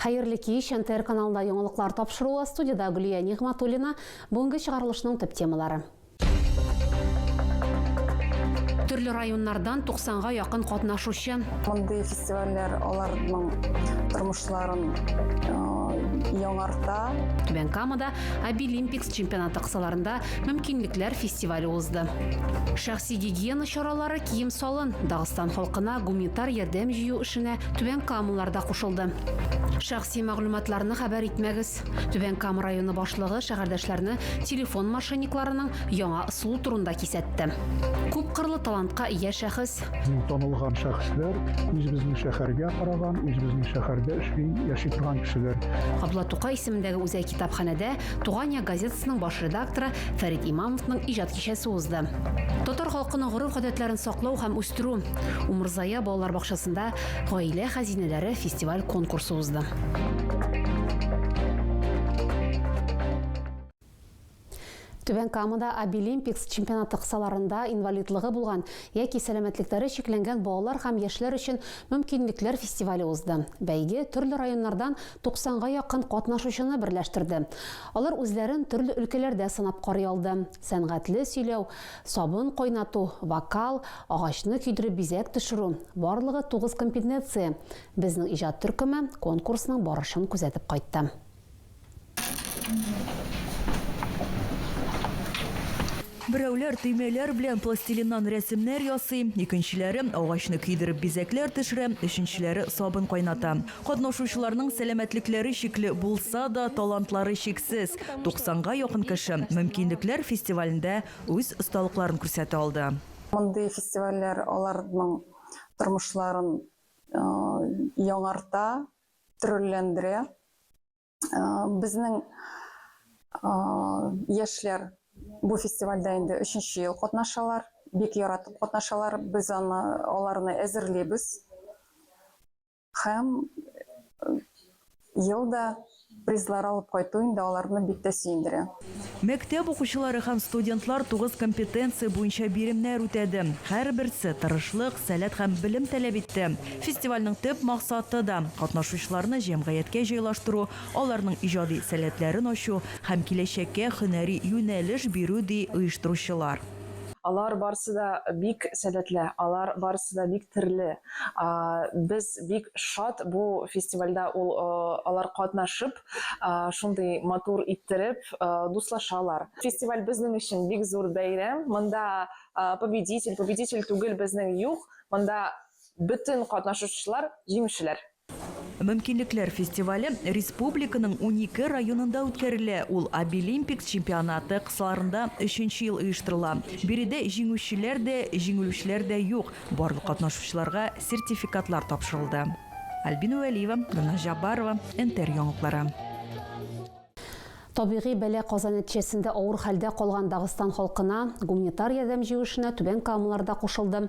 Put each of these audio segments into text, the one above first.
Хәерле кич! НТР каналында яңалыклар тапшыруы, студиядә Гөлия Нигъматуллина. Бүгенге чыгарылышның төп темалары. Төрле районнардан 90 га якын катнашучы. Мондый фестивальләр аларның тормышларын яңарта. Түбән Камада Обилимпикс Чемпионаты кысаларында Мөмкинлекләр фестивале узды. Шәхси гигиена чаралары, кием-салын, Дагыстан халкына гуманитар ярдәм җыю эшенә Түбән Камалар да кушылды. Шәхси мәгълүматларны хәбәр итмәгез. Түбән Кама районы башлыгы шәһәрдәшләрне телефон мошенникларының яңа ысулы турында кисәтте. Күпкырлы талантка ия шәхес. Мин танылган шәхесләр, үзебезнең шәһәргә караган, үзебезнең шәһәрдә эшли, яши торган кешеләр. Абла Тукай исемендәге үзәк китапханәдә Туган як газетасының баш редакторы Фәрит Имамовның иҗат кичәсе узды. Татар халкының гореф-гадәтләрен саклау һәм үстерү Умырзая балалар бакчасында Гаилә хәзинәләре фестиваль-конкурсы узды. Түбән Камада Абилимпикс чемпионаты кысаларында инвалидлыгы булган яки сәламәтлекләре чикләнгән балалар һәм яшьләр өчен мөмкинлекләр фестивале узды. Бәйге төрле районнардан 90 га якын катнашучыны берләштерде. Алар үзләрен төрле өлкәләрдә сынап карый алды, сәнгатьле сөйләү, сабын кайнату, вокал, агачны көйдереп бизәк төшерү, барлыгы тугыз компетенция, Безнең иҗат төркеме конкурсның барышын күзәтеп кайтты. Берәүләр төймәләр белән пластилиннан рәсемнәр ясый, икенчеләре агачны көйдереп бизәкләр төшерә, өченчеләре сабын кайната. Катнашучыларның сәламәтлекләре чикле булса да, талантлары чиксез. 90 га якын кеше Мөмкинлекләр фестивалендә үз осталыкларын күрсәтә алды. Мондый фестивальләр аларның тормышларын яңарта, тролләндерә. Безнең яшьләр бу фестивальдә инде өченче ел катнашалар. Бик яратып катнашалар. Без аны, аларны әзерлибез. Һәм ел да Призлар алып кайту инде аларны бик тә сөендерә. Мәктәп укучылары һәм студентлар тугыз компетенция буенча биремнәр үтәде. Һәрберсе тырышлык, сәләт һәм белем таләп итте. Фестивальнең төп максаты да, катнашучыларны җәмгыятькә җайлаштыру, аларның иҗади сәләтләрен ачу һәм киләчәккә һөнәри юнәлеш бирү, ди оештыручылар. Алар барысы да бик сәләтле, алар барысы да бик терле. Без бик шат бу фестивальдә ул алар катнашып, шундый матур иттереп дуслашалар. Фестиваль безнең өчен бик зур бәйрәм. Монда победитель, победитель түгел безнең юк. Монда бөтен катнашучылар җиңүчеләр. Мөмкинлекләр фестивале республиканың унике районында үткәрелә. Ул Обилимпикс чемпионаты кысаларында өченче ел оештырыла. Биредә җиңүчеләр дә, җиңелүчеләр дә юк. Барлык катнашучыларга сертификатлар тапшырылды. Альбина Вәлиева, Гөлназ Җаббарова, НТР яңалыклары. Табигый бәла каза нәтиҗәсендә авыр хәлдә калган Дагыстан халкына гуманитар ярдәм җыю эшенә Түбән Камалар да кушылды.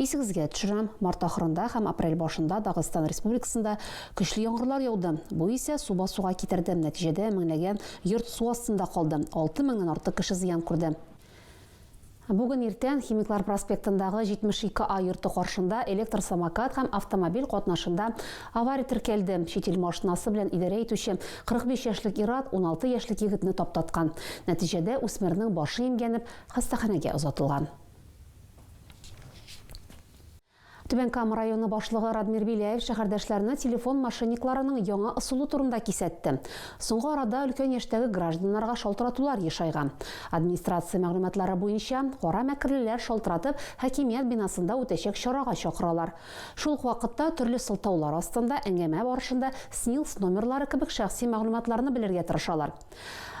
Исегезгә төшерәм, март ахырында һәм апрель башында Дагыстан Республикасында көчле яңгырлар яуды. Бу исә су басуга китерде, нәтиҗәдә меңләгән йорт су астында калды, 6 меңнән артык кеше зыян күрде. Бүген иртән Химиклар проспектындагы 72 А йорты каршында электр самокат һәм автомобиль катнашында авария теркәлде. Чит ил машинасы белән идарә итүче 45 яшьлек ир-ат 16 яшьлек егетне таптаткан. Нәтиҗәдә үсмернең башы имгәнеп, хастаханәгә озатылган. Түбән Кама районы башлыгы Радмир Беляев шәһәрдәшләрне телефон мошенникларының яңа ысулы турында кисәтте. Соңгы арада өлкән яшьтәге гражданнарга шалтыратулар ешайган. Администрация мәгълүматлары буенча, кара мәкерлеләр шалтыратып хакимият бинасында үтәчәк чарага чакыралар. Шул ук вакытта төрле сылтаулар астында әңгәмә барышында СНИЛС номерлары кебек шәхси мәгълүматларны белергә тырышалар.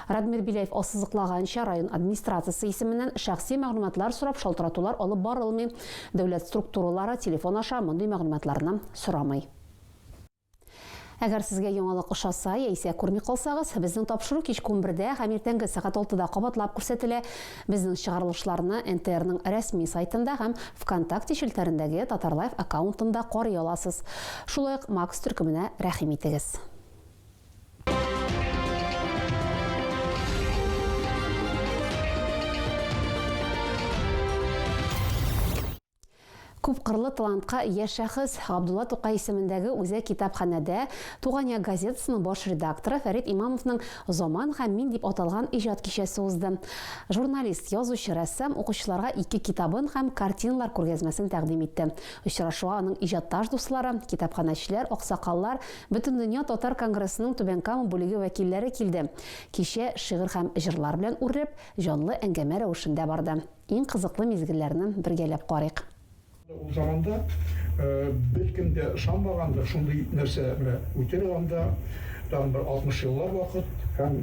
Радмир Беляев ассызыклаганча, район администрациясе исеменнән шәхси мәгълүматлар сорап шалтыратулар алып барылмый, дәүләт структуралары телефон аша мондый мәгълүматларны сорамый. Әгәр сезгә яңалык ошаса яисә күрми калсагыз, безнең тапшыру кичке унбердә һәм иртәнге сәгать алтыда кабатлап күрсәтелә. Безнең чыгарылышларны НТРның рәсми сайтында һәм ВКонтакте челтәрендәге Татарлайф аккаунтында карый аласыз. Шулай ук Макс төркеменә рәхим итегез. Күпкырлы талантка ия шәхес Габдулла Тукай исемендәге үзәк китапханәдә Туган як газетасының баш редакторы Фәрит Имамовның Заман һәм мин дип аталган иҗат кичәсе узды. Журналист, язучы, рәссам укучыларга ике китабын һәм картиналар күргәзмәсен тәкъдим итте. Очрашуга аның иҗатташ дуслары, китапханәчеләр, аксакаллар, Бөтендөнья татар конгрессының Түбән Кама бүлеге вәкилләре килде. Кичә шигырь һәм җырлар белән үрләп, җанлы әңгәмә рәвешендә барды. Иң кызыклы мизгелләрне бергәләп карыйк. Ул заманда беркем дә ышанмагандыр, шундый нәрсә менә үтер анда, тагын бер 60 еллар вакыт, һәм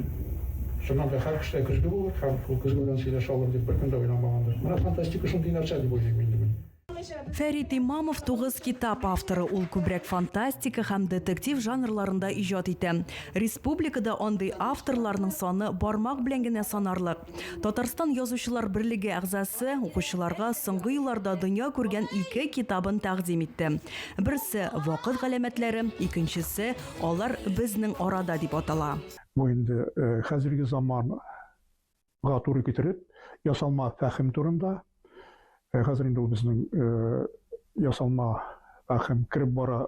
чыннан да һәр кешедә көзге булыр һәм шул көзге белән сөйләшә алыр дип беркем дә уйламагандыр. Менә фантастика шундый нәрсә дип уйлыйм инде мин. Фәрит Имамов тугыз китап авторы, ул күбрәк фантастика һәм детектив жанрларында иҗат итә. Республикада андый авторларның саны бармак белән генә санарлык. Татарстан Язучылар берлеге әгъзасы укучыларга соңгы елларда дөнья күргән ике китабын тәкъдим итте. Берсе, Вакыт галәмәтләре, икенчесе, Алар безнең арада дип атала. Бу инде хәзерге заман га туры китереп, ясалма фәһем турында, э, хәзер инде ул безнең э, ясалма фәһем кереп бара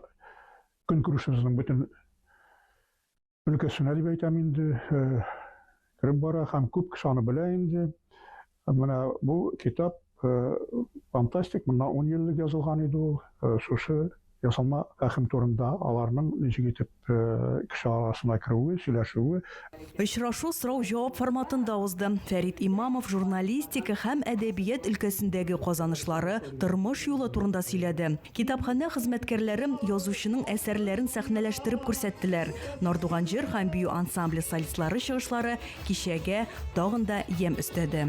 көнкүрешебезнең бөтен өлкәсенә дип әйтәм инде, э, кереп бара һәм күп кеше аны белә инде. Менә бу китап Фантастик, моннан ун ел элек язылган иде ул. Шушы ясалма рәхим турында, аларның ничек итеп кеше арасына керүе, сөйләшүе. Очрашу сорау-җавап форматында узды. Фәрит Имамов журналистика һәм әдәбият өлкәсендәге казанышлары, тормыш юлы турында сөйләде. Китапханә хезмәткәрләре язучының әсәрләрен сәхнәләштереп күрсәттеләр. Нардуган җыр һәм бию ансамбле солистлары чыгышлары кичәгә тагын да ямь өстәде.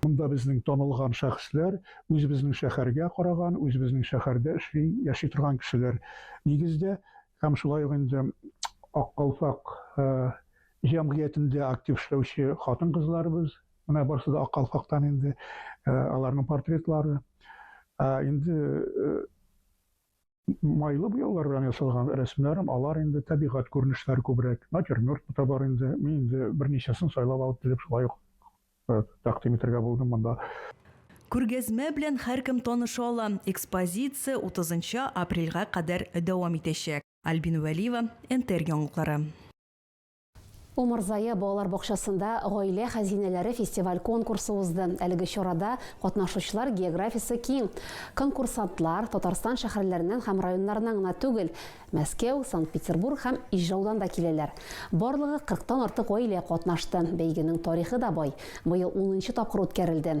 Монда безнең танылган шәхесләр, үзебезнең шәһәргә караган, үзебезнең шәһәрдә эшли, яши торган кешеләр нигездә һәм шулай ук инде Ак калфак җәмгыятендә актив эшләүче хатын-кызларыбыз, менә барысы да Ак калфактан инде, аларның портретлары. Инде Майлы буяулар белән ясалган рәсемнәрем, алар инде табигать күренешләре күбрәк. Натюрморт та бар инде. Мин инде берничәсен сайлап алып килеп шулай ук э, тәкъдим итәргә булдым монда. Күргәзмә белән һәркем таныша ала. Экспозиция 30 апрельгә кадәр дәвам итәчәк. Альбина Вәлиева, НТР яңалыклары. Умырзая балалар бакчасында Гаилә хәзинәләре фестиваль-конкурсы узды. Әлеге чарада катнашучылар географиясе киң. Конкурсантлар Татарстан шәһәрләреннән һәм районнарыннан гына түгел, Мәскәү, Санкт-Петербург һәм Ижаудан да киләләр. Барлыгы 40 тан артык гаилә катнашты. Бәйгенең тарихы да бай. Быел унынчы тапкыр үткәрелде.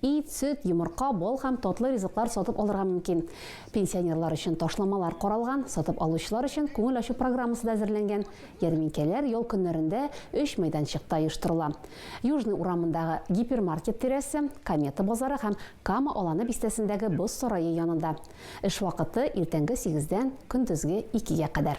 Ит, сөт, йомырка, бал һәм татлы ризыклар сатып алырга мөмкин. Пенсионерлар өчен ташламалар каралган, сатып алучылар өчен күңел ачу программасы да әзерләнгән. Ярминкәләр ял көннәрендә өч мәйданчыкта оештырыла. Южный урамындагы Гипермаркет тирәсе, Комета базары һәм Кама Аланы бистәсендәге Боз сарае янында. Эш вакыты, иртәнге сигездән көндезге икегә кадәр.